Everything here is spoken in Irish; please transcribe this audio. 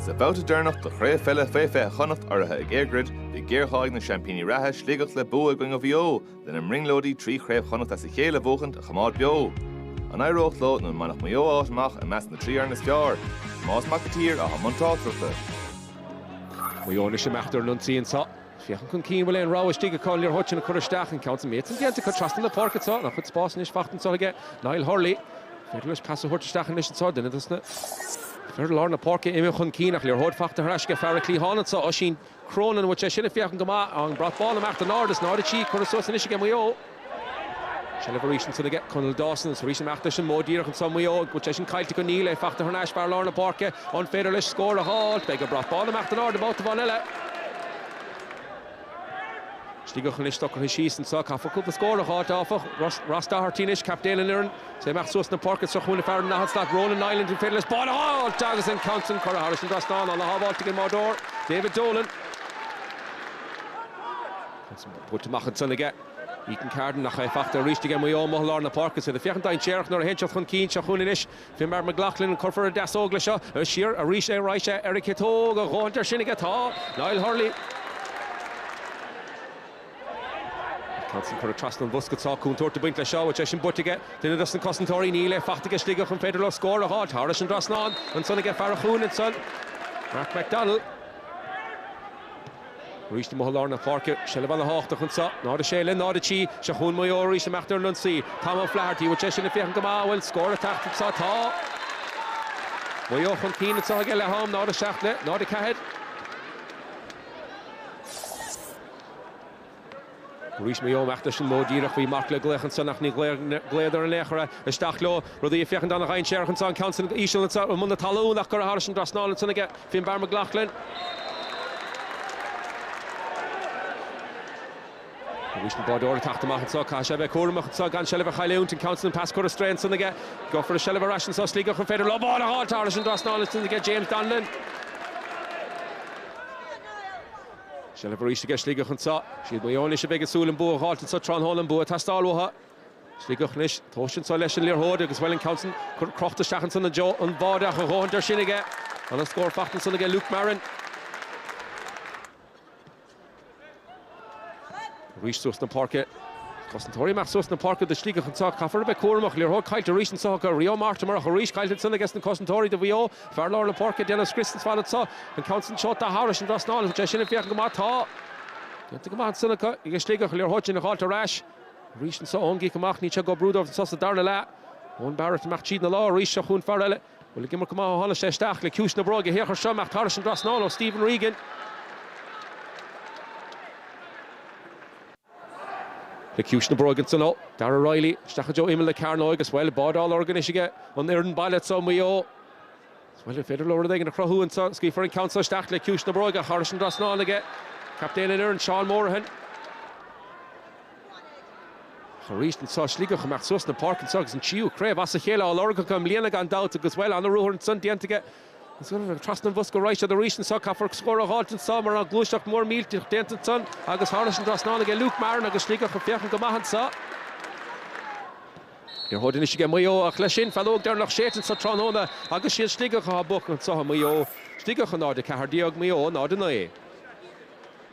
Sa babhta deireanach de Chraobh Pheile Fé 20 Chonnacht urraithe ag EirGrid, bhí géarghá ag na seaimpíní reatha, Sligeach, le bua i gcoinne Mhaigh Eo lena mbrionglóidí trí Chraobh Chonnacht as a chéile a bhuachaint a choimeád beo. An éireodh leo nó an mbainfeadh Maigh Eo áit amach i measc na dtrí fhoireann is fearr? Tomás Mac an tSaoir, atá i mbun tráchtaireachta. Maigh Eo anois ag imeacht ar an ionsaí anseo. Féachann chun cinn, an bhfuil aon rogha istigh aige chun liathróid sin a chur isteach, an ceann, tá an méid san déanta, curtha trasna na páirce anseo, an-chuid spás anois fachta anseo aige Niall Hurley, féidir leis pas a thabhairt isteach anois anseo, duine dos na fir lár na páirce imithe chun cinn ach liathróid fachta thar ais aige fear an chliatháin anseo, Oisín Cronin, an bhfuil sé sin ag féachaint go maith, an brat bán ag imeacht in airde is náid a trí curtha suas anois aige Maigh Eo. Seilbh arís ansin aige Conal Dawson agus arís ag imeacht leis an modh díreach anseo Maigh Eo an bhfuil sé sin caillte acu? Níl, é fachta thar n-ais fear lár na páirce. An féidir leis scór a dh'fháilt? Beidh an brat bán ag imeacht in airde babhta amháin eile. Sligeach anois socraithe síos anseo. Caithfear cúpla scór a dh'fháilt áfach. Ross Doherty anois captaen an fhoireann. Is é ag imeacht suas na páirce anseo chugainn fear an daichead slat Ronan Niland. An féidir leis bán a dh'fháilt agus an ceann sin curtha thairis an dtrasnán. Ana-shábháilt ag an mbáireoir David Dolan. An bhaint amach ansan aige. Ethan Carden, ach é fachta arís aige Maigh Eo amuigh i lár na páirce. Is iad ag féachaint dainséarach nuair a théann siad chun cinn seo chugainn anois. Finbar McLaughlin an gcuirfear deasóg leis seo. Siar arís ar ais ar a chiotóg. A dhóthaint air sin aige tá Niall Hurley. An ceann san curtha trasna an bhosca anseo cúntúirt ag baint leis seo, an bhfuil sé sin bainte aige duine dos na cosantóirí. Níl, é fachta aige Sligeach an féidir leo scór a dh'fháilt thairis an dtrasnán. Ansan aige fear an chúinne ansan, Mark McDaniel. Arís amuigh i lár na páirce, seilbh ana thábhachtach anseo, náid a sé le náid a trí, seo chugainn Maigh Eo arís ag imeacht ar an ionsaí, Tom O'Flaherty, bhfuil sé sin ag féachaint go maith, an bhfuil scór ag teacht anseo? Tá. Maigh Eo chun cinn anseo ag a leath am, náid a seacht le náid a ceathair. Arís Maigh Eo ag imeacht leis an modh díreach, bhí marc le glaoch ansan ach ní ghlaodar an laoch ar isteach leo, rudaí ag féachaint ana-dhainséarach ansan, an ceann san íseal ansan i mbun na talún ach curtha thairis an dtrasnán ansan aige, Finbar McLaughlin. Arís an báireoir ag teacht amach ansan caithfidh sé a bheith cúramach ansan gan seilbh a chailliúint, an ceann san an pas curtha ar strae ansan aige, gheofar an seilbh ar ais ansan Sligeach, an féidir leo ball a dh'fháilt thairis an dtrasnán ansan aige, James Donlon. Seilbh arís aige, Sligeach anseo. Siad Maigh Eo anois a bheidh ag súil an bua a dh'fháilt anseo tráthnóna, an bua atá ag teastáil uathu. Sligeach anois tomhais anseo leis an liathróid agus bhuel an ceann san, crochta isteach ansan i dtreo an bháide ach a dhóthaint air sin aige. Ana-scór fachta ansan aige Luke Marren. Arís suas na páirce. Cosantóirí ag imeacht suas na páirce do Shligeach anseo. Caithfear a bheith cúramach. Liathróid caillte arís anseo acu. Rio Mortimer ach arís caillte ansin ages na cosantóirí do Mhaigh Eo. Fear lár na páirce ag déanamh scrios ar fad anseo. An ceann san seolta thairis an dtrasnán, an bhfuil sé sin ag féachaint go maith? Tá, déanta go maith ansin acu ages Sligeach. Liathróid sin a dh'fháilt ar ais. Arís anseo ón gcic amach. Níl sé go brúdóir anseo sa darna leath. Eoin Barrett ag imeacht tríd an lár arís. Seo chugainn fear eile. Bhuel, ag imirt go maith ó tháinig sé isteach, le ciumhais na bróige thiar seo amach tar eis an dtrasnáil ó Stephen Regan. Le ciumhais na bróige ansan ó Darragh Reilly, isteach go dtí imeall na cearnóige agus, bhuel, báide á lorg anois aige an fhoireann baile anseo i Maigh Eo. Bhuel, an féidir leo rud éigin a chruthú anseo? Scaoilfear an ceann seo isteach le ciúis na bróige, tar eis an dtrasnáil aige captaen na foirne, Seán Morahan. Ach arís anso Sligeach ag briseadh suas na páirce anseo agus an tríú craobh as a chéile á lorg acu i mbliana gan dabht agus, bhuel, an-ruathar ansan déanta aige agus trasna an bhosca raibh siad arís anseo. Caithfear scór a fháilt anso mar tá gluaiseacht mhór millteach déanta ansan agus tar éis an dtrasnáil aige Luke Marren agus Sligeach ag féachaint go maith anso. Liathróid anois aige Maigh Eo ach leis sin feadóg dheireanach séite anso tráthnóna agus is iad Sligeach atá buacach anso i Maigh Eo. Sligeach 0, 14, Maigh Eo 0, 9.